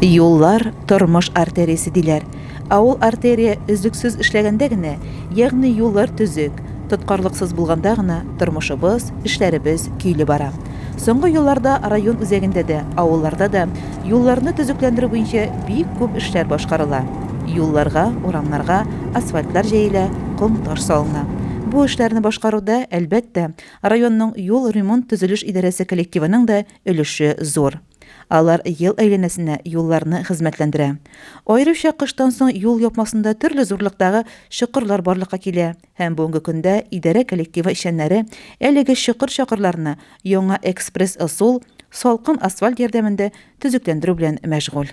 Юллар, тормыш артериясе диләр. Ә ул артерия өзлексез эшләгәндә генә, ягъни юллар төзек, тоткарлыксыз булганда гына тормышыбыз, эшләребез көйле бара. Соңгы елларда район үзәгендә дә, авылларда да юлларны төзекләндерү буенча бик күп эшләр башкарыла. Юлларга, урамнарга асфальтлар җәелә, ком-таш салына. Бу эшләрне башкаруда, әлбәттә, Районның юл ремонт-төзелеш идарәсе коллективының да өлеше зур. Алар ел әйләнәсенә юлларны хезмәтләндерә. Аеруча кыштан соң юл япмасында төрле зурлыктагы чокырлар барлыкка килә һәм бүгенге көндә идарә коллективы эшчәннәре әлеге чокыр-чакырларны яңа экспресс-ысул, салкын асфальт ярдәмендә төзекләндерү белән мәшгуль.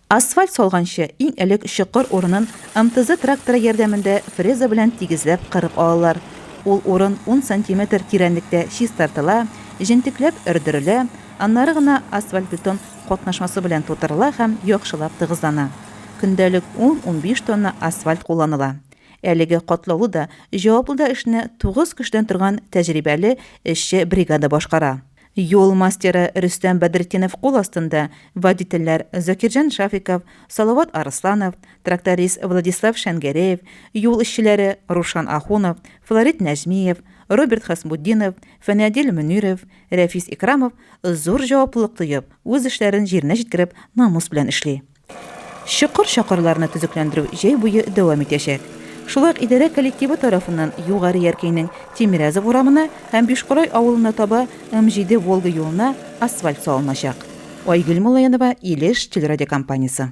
Асфальт салганчы, иң элек чокыр урынын МТЗ тракторы ярдәмендә фреза белән тигезләп кырып алалар. Ул урын ун сантиметр тирәнлектә чистартыла, җентекләп өрдерелә, аннары гына асфальтбетон катнашмасы белән тутырыла һәм яхшылап тыгызлана. Көндәлек ун-унбиш тонна асфальт кулланыла. Әлеге катлаулы да, җаваплы да эшне тугыз кешедән торган тәҗрибәле эшче бригада башкара. Юл мастеры Рөстәм Бәдретдинов кул астында водительләр Закирҗан Шафиков, Салават Арысланов, тракторист Владислав Шәнгәрәев, юл эшчеләре Рушан Ахунов, Флорид Нәҗмиев, Роберт Хәсбутдинов, Фәнәдил Мөниров, Рәфис Икрамов зур җаваплылык тоеп, үз эшләрен җиренә җиткереп, намус белән эшли. Чокыр-чакырларны төзекләндерү җәй буе дәвам итәчәк. Шулай ук идарә коллективы тарафыннан Югары Яркәйнең Тимерязов урамына һәм Бишкорай авылына таба М7 Волга юлына асфальт салыначак. Айгөл Муллаянова, Илеш телерадиокомпаниясе.